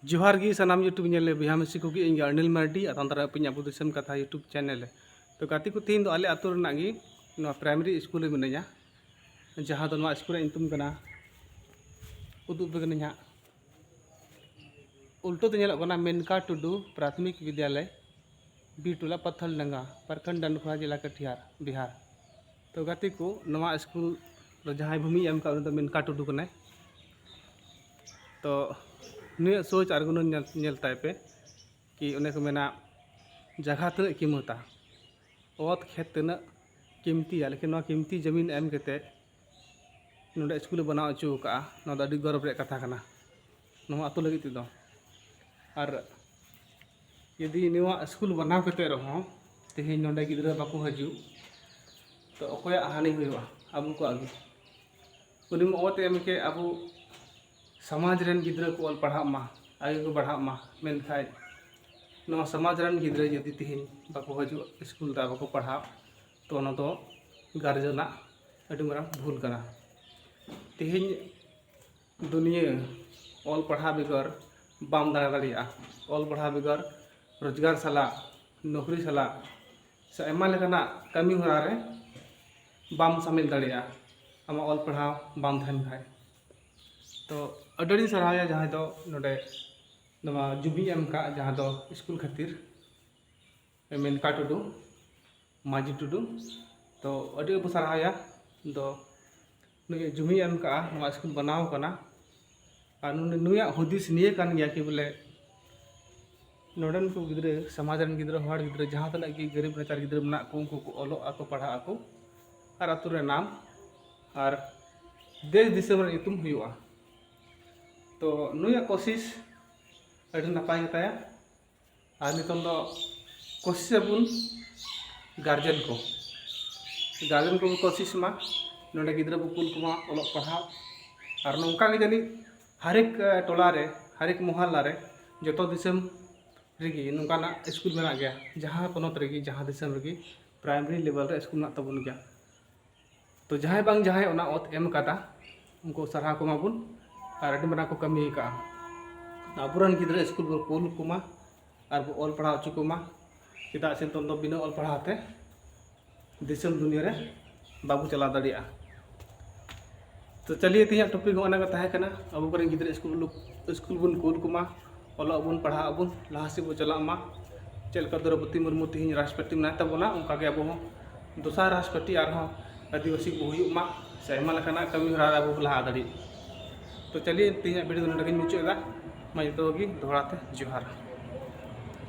ᱡᱚᱦᱟᱨ ᱜᱮ ᱥᱟᱱᱟᱢ ᱭᱩᱴᱩᱵᱽ ᱧᱮᱞ ᱞᱮ ᱵᱚᱭᱦᱟ ᱢᱤᱥᱤ ᱠᱚᱜᱮ ᱤᱧ ᱟᱨᱱᱤᱞ ᱢᱟᱨᱰᱤ ᱟᱨ ᱛᱟᱱᱫᱟᱨᱟ ᱟᱹᱯᱤᱧ ᱟᱵᱚ ᱫᱤᱥᱚᱢ ᱠᱟᱛᱷᱟ ᱭᱩᱴᱩᱵᱽ ᱪᱮᱱᱮᱞ ᱛᱚ ᱜᱟᱛᱮ ᱠᱚ ᱛᱮᱦᱮᱧ ᱫᱚ ᱟᱞᱮ ᱟᱛᱳ ᱨᱮᱱᱟᱜ ᱜᱮ ᱱᱚᱣᱟ ᱯᱨᱟᱭᱢᱟᱨᱤ ᱥᱠᱩᱞ ᱨᱮ ᱢᱤᱱᱟᱹᱧᱟ ᱡᱟᱦᱟᱸ ᱫᱚ ᱱᱚᱣᱟ ᱥᱠᱩᱞ ᱨᱮᱭᱟᱜ ᱧᱩᱛᱩᱢ ᱠᱟᱱᱟ ᱩᱫᱩᱜ ᱟᱯᱮ ᱠᱟᱹᱱᱟᱹᱧ ᱦᱟᱸᱜ ᱩᱞᱴᱟᱹ ᱛᱮ ᱧᱮᱞᱚᱜ ᱠᱟᱱᱟ ᱢᱮᱱᱠᱟ ᱴᱩᱰᱩ ᱯᱨᱟᱛᱷᱚᱢᱤᱠ ᱵᱤᱫᱽᱭᱟᱞᱚᱭ ᱵᱤᱨᱴᱚᱞᱟ ᱯᱟᱛᱷᱚᱞ ᱰᱟᱸᱜᱟ ᱯᱨᱚᱠᱷᱚᱸᱰ ᱰᱟᱱᱰᱠᱷᱳᱣᱟ ᱡᱮᱞᱟ ᱠᱟᱴᱤᱦᱟᱨ ᱵᱤᱦᱟᱨ ᱛᱚ ᱜᱟᱛᱮ ᱠᱚ ᱱᱚᱣᱟ ᱥᱠᱩᱞ ᱨᱮ ᱡᱟᱦᱟᱸᱭ ᱵᱷᱩᱢᱤ ᱮᱢ ᱠᱟᱜ ᱩᱱᱤ ᱫᱚ ᱢᱮᱱᱠᱟ ᱴᱩᱰᱩ ᱠᱟᱱᱟᱭ ᱛᱚ ᱱᱩᱭᱟᱜ ᱥᱳᱪ ᱟᱨ ᱜᱩᱱᱟᱹᱱ ᱧᱮᱞ ᱧᱮᱞ ᱛᱟᱭ ᱯᱮ ᱠᱤ ᱚᱱᱮ ᱠᱚ ᱢᱮᱱᱟ ᱡᱟᱭᱜᱟ ᱛᱤᱱᱟᱹᱜ ᱠᱤᱢᱚᱛᱟ ᱚᱛ ᱠᱷᱮᱛ ᱛᱤᱱᱟᱹᱜ ᱠᱤᱢᱛᱤᱭᱟ ᱞᱮᱠᱤᱱ ᱱᱚᱣᱟ ᱠᱤᱢᱛᱤ ᱡᱚᱢᱤᱱ ᱮᱢ ᱠᱟᱛᱮᱫ ᱱᱚᱰᱮ ᱥᱠᱩᱞᱮ ᱵᱮᱱᱟᱣ ᱦᱚᱪᱚ ᱠᱟᱜᱼᱟ ᱱᱚᱣᱟ ᱫᱚ ᱟᱹᱰᱤ ᱜᱚᱨᱚᱵᱽ ᱨᱮᱭᱟᱜ ᱠᱟᱛᱷᱟ ᱠᱟᱱᱟ ᱱᱚᱣᱟ ᱟᱛᱳ ᱞᱟᱹᱜᱤᱫ ᱛᱮᱫᱚ ᱟᱨ ᱡᱩᱫᱤ ᱱᱚᱣᱟ ᱥᱠᱩᱞ ᱵᱮᱱᱟᱣ ᱠᱟᱛᱮ ᱨᱮᱦᱚᱸ ᱛᱮᱦᱮᱧ ᱱᱚᱰᱮ ᱜᱤᱫᱽᱨᱟᱹ ᱵᱟᱠᱚ ᱦᱤᱡᱩᱜ ᱛᱚ ᱚᱠᱚᱭᱟᱜ ᱦᱟᱹᱱᱤ ᱦᱩᱭᱩᱜᱼᱟ ᱟᱵᱚ ᱠᱚᱣᱟᱜ ᱜᱮ ᱩᱱᱤ ᱢᱟ ᱚᱛ ᱮᱢ ᱠᱮᱫ ᱟᱵᱚ ᱥᱚᱢᱟᱡᱽ ᱨᱮᱱ ᱜᱤᱫᱽᱨᱟᱹ ᱠᱚ ᱚᱞ ᱯᱟᱲᱦᱟᱜ ᱢᱟ ᱟᱜᱮ ᱠᱚ ᱯᱟᱲᱦᱟᱜ ᱢᱟ ᱢᱮᱱᱠᱷᱟᱡ ᱱᱚᱣᱟ ᱥᱚᱢᱟᱡᱽ ᱨᱮᱱ ᱜᱤᱫᱽᱨᱟᱹ ᱡᱩᱫᱤ ᱛᱮᱦᱮᱧ ᱵᱟᱠᱚ ᱦᱤᱡᱩᱜ ᱥᱠᱩᱞ ᱨᱮ ᱵᱟᱠᱚ ᱯᱟᱲᱦᱟᱜ ᱛᱚ ᱚᱱᱟ ᱫᱚ ᱜᱟᱨᱡᱮᱱᱟᱜ ᱟᱹᱰᱤ ᱢᱟᱨᱟᱝ ᱵᱷᱩᱞ ᱠᱟᱱᱟ ᱛᱮᱦᱮᱧ ᱫᱩᱱᱤᱭᱟᱹ ᱚᱞ ᱯᱟᱲᱦᱟᱣ ᱵᱮᱜᱚᱨ ᱵᱟᱢ ᱫᱟᱬᱟ ᱫᱟᱲᱮᱭᱟᱜᱼᱟ ᱚᱞ ᱯᱟᱲᱦᱟᱣ ᱵᱮᱜᱚᱨ ᱨᱳᱡᱽᱜᱟᱨ ᱥᱟᱞᱟᱜ ᱱᱚᱠᱨᱤ ᱥᱟᱞᱟᱜ ᱥᱮ ᱟᱭᱢᱟ ᱞᱮᱠᱟᱱᱟᱜ ᱠᱟᱹᱢᱤ ᱦᱚᱨᱟ ᱨᱮ ᱵᱟᱢ ᱥᱟᱹᱢᱤᱞ ᱫᱟᱲᱮᱭᱟᱜᱼᱟ ᱟᱢᱟᱜ ᱚᱞ ᱯᱟᱲᱦᱟᱣ ᱵᱟᱝ ᱛᱟᱦᱮᱱ ᱠᱷᱟᱡ ᱛᱚ ᱟᱹᱰᱤ ᱟᱹᱰᱤᱧ ᱥᱟᱨᱦᱟᱣᱮᱭᱟ ᱡᱟᱦᱟᱸᱭ ᱫᱚ ᱱᱚᱰᱮ ᱱᱚᱣᱟ ᱡᱩᱵᱤ ᱮᱢ ᱠᱟᱜ ᱡᱟᱦᱟᱸ ᱫᱚ ᱥᱠᱩᱞ ᱠᱷᱟᱹᱛᱤᱨ ᱢᱮᱱᱠᱟ ᱴᱩᱰᱩ ᱢᱟᱹᱡᱷᱤ ᱴᱩᱰᱩ ᱛᱚ ᱟᱹᱰᱤ ᱵᱚ ᱥᱟᱨᱦᱟᱣᱭᱟ ᱫᱚ ᱱᱩᱭ ᱡᱩᱢᱤ ᱮᱢ ᱠᱟᱜᱼᱟ ᱱᱚᱣᱟ ᱥᱠᱩᱞ ᱵᱮᱱᱟᱣ ᱠᱟᱱᱟ ᱟᱨ ᱱᱩᱭᱟᱜ ᱦᱩᱫᱤᱥ ᱱᱤᱭᱟᱹ ᱠᱟᱱ ᱜᱮᱭᱟ ᱠᱤ ᱵᱚᱞᱮ ᱱᱚᱰᱮᱱ ᱠᱚ ᱜᱤᱫᱽᱨᱟᱹ ᱥᱚᱢᱟᱡᱽ ᱨᱮᱱ ᱜᱤᱫᱽᱨᱟᱹ ᱦᱚᱲ ᱜᱤᱫᱽᱨᱟᱹ ᱡᱟᱦᱟᱸ ᱛᱤᱱᱟᱹᱜ ᱜᱮ ᱜᱟᱹᱨᱤᱵ ᱱᱟᱪᱟᱨ ᱜᱤᱫᱽᱨᱟᱹ ᱢᱮᱱᱟᱜ ᱠᱚ ᱩᱱᱠᱩ ᱠᱚ ᱚᱞᱚᱜ ᱟᱠᱚ ᱯᱟᱲᱦᱟᱜ ᱟᱠᱚ ᱟᱨ ᱟᱛᱳ ᱨᱮ ᱱᱟᱢ ᱟᱨ ᱫᱮᱥ ᱫᱤᱥᱚᱢ ᱨᱮ ᱧᱩᱛᱩᱢ ᱦᱩᱭᱩᱜᱼᱟ ᱛᱚ ᱱᱩᱭᱟᱜ ᱠᱳᱥᱤᱥ ᱟᱹᱰᱤ ᱱᱟᱯᱟᱭ ᱜᱮᱛᱟᱭᱟ ᱟᱨ ᱱᱤᱛᱚᱝ ᱫᱚ ᱠᱳᱥᱤᱥ ᱟᱵᱚᱱ ᱜᱟᱨᱡᱮᱱ ᱠᱚ ᱜᱟᱨᱡᱮᱱ ᱠᱚᱵᱚᱱ ᱠᱳᱥᱤᱥ ᱢᱟ ᱱᱚᱰᱮ ᱜᱤᱫᱽᱨᱟᱹ ᱵᱚᱱ ᱠᱩᱞ ᱠᱚᱢᱟ ᱚᱞᱚᱜ ᱯᱟᱲᱦᱟᱜ ᱟᱨ ᱱᱚᱝᱠᱟ ᱜᱮ ᱡᱟᱹᱱᱤᱡ ᱦᱟᱨᱮᱠ ᱴᱚᱞᱟ ᱨᱮ ᱦᱟᱨᱮᱠ ᱢᱚᱦᱚᱞᱞᱟ ᱨᱮ ᱡᱚᱛᱚ ᱫᱤᱥᱚᱢ ᱨᱮᱜᱮ ᱱᱚᱝᱠᱟᱱᱟᱜ ᱥᱠᱩᱞ ᱢᱮᱱᱟᱜ ᱜᱮᱭᱟ ᱡᱟᱦᱟᱸ ᱯᱚᱱᱚᱛ ᱨᱮᱜᱮ ᱡᱟᱦᱟᱸ ᱫᱤᱥᱚᱢ ᱨᱮᱜᱮ ᱯᱨᱟᱭᱢᱟᱨᱤ ᱞᱮᱵᱮᱞ ᱨᱮ ᱥᱠᱩᱞ ᱢᱮᱱᱟᱜ ᱛᱟᱵᱚᱱ ᱜᱮᱭᱟ ᱛᱚ ᱡᱟᱦᱟᱸᱭ ᱵᱟᱝ ᱡᱟᱦᱟᱸᱭ ᱚᱱᱟ ᱚᱛ ᱮᱢ ᱠᱟᱫᱟ ᱩᱱᱠᱩ ᱥᱟᱨᱦᱟᱣ ᱠᱚᱢᱟ ᱵᱚᱱ ᱟᱨ ᱟᱹᱰᱤ ᱢᱟᱨᱟᱝ ᱠᱚ ᱠᱟᱹᱢᱤ ᱟᱠᱟᱫᱼᱟ ᱟᱵᱚᱨᱮᱱ ᱜᱤᱫᱽᱨᱟᱹ ᱥᱠᱩᱞ ᱵᱚᱱ ᱠᱩᱞ ᱠᱚᱢᱟ ᱟᱨ ᱵᱚ ᱚᱞ ᱯᱟᱲᱦᱟᱣ ᱦᱚᱪᱚ ᱠᱚᱢᱟ ᱪᱮᱫᱟᱜ ᱥᱮ ᱱᱤᱛᱚᱝ ᱫᱚ ᱵᱤᱱᱟᱹ ᱚᱞ ᱯᱟᱲᱦᱟᱣ ᱛᱮ ᱫᱤᱥᱚᱢ ᱫᱩᱱᱤᱭᱟᱹ ᱨᱮ ᱵᱟᱵᱚ ᱪᱟᱞᱟᱣ ᱫᱟᱲᱮᱭᱟᱜᱼᱟ ᱛᱚ ᱪᱟᱹᱞᱤᱭᱮ ᱛᱤᱧᱟᱹᱜ ᱴᱚᱯᱤᱠ ᱦᱚᱸ ᱚᱱᱟᱜᱮ ᱛᱟᱦᱮᱸ ᱠᱟᱱᱟ ᱟᱵᱚ ᱠᱚᱨᱮᱱ ᱜᱤᱫᱽᱨᱟᱹ ᱥᱠᱩᱞ ᱥᱠᱩᱞ ᱵᱚᱱ ᱠᱩᱞ ᱠᱚᱢᱟ ᱚᱞᱚᱜ ᱟᱵᱚᱱ ᱯᱟᱲᱦᱟᱜ ᱟᱵᱚᱱ ᱞᱟᱦᱟ ᱥᱮᱫ ᱵᱚᱱ ᱪᱟᱞᱟᱜ ᱢᱟ ᱪᱮᱫ ᱞᱮᱠᱟ ᱫᱨᱳᱣᱯᱚᱫᱤ ᱢᱩᱨᱢᱩ ᱛᱮᱦᱮᱧ ᱨᱟᱥᱴᱨᱚᱯᱚᱛᱤ ᱢᱮᱱᱟᱭ ᱛᱟᱵᱚᱱᱟ ᱚᱱᱠᱟ ᱜᱮ ᱟᱵᱚ ᱦᱚᱸ ᱫᱚᱥᱟᱨ ᱨᱟᱥᱴᱨᱚᱯᱚᱛᱤ ᱟᱨᱦᱚᱸ ᱟᱹᱫᱤᱵᱟᱹᱥᱤ ᱠᱚ ᱦᱩᱭᱩᱜ ᱢᱟ ᱥᱮ ᱟᱭᱢᱟ ᱞᱮᱠᱟᱱᱟᱜ ᱠᱟᱹᱢᱤ ᱦᱚᱨᱟ ᱟᱵᱚ ᱵᱚᱱ ᱞᱟᱦᱟ ᱫᱟᱲᱮᱜ ᱛᱚ ᱪᱟᱹᱞᱤᱭᱮ ᱛᱮᱦᱮᱧᱟᱜ ᱵᱷᱤᱰᱤᱭᱳ ᱫᱚ ᱱᱚᱰᱮ ᱜᱤᱧ ᱢᱩᱪᱟᱹᱫ ᱮᱫᱟ ᱢᱟ ᱡᱚᱛᱚ ᱦᱚᱲ ᱜᱮ ᱫᱚᱦᱲᱟ ᱛᱮ ᱡᱚᱦᱟᱨ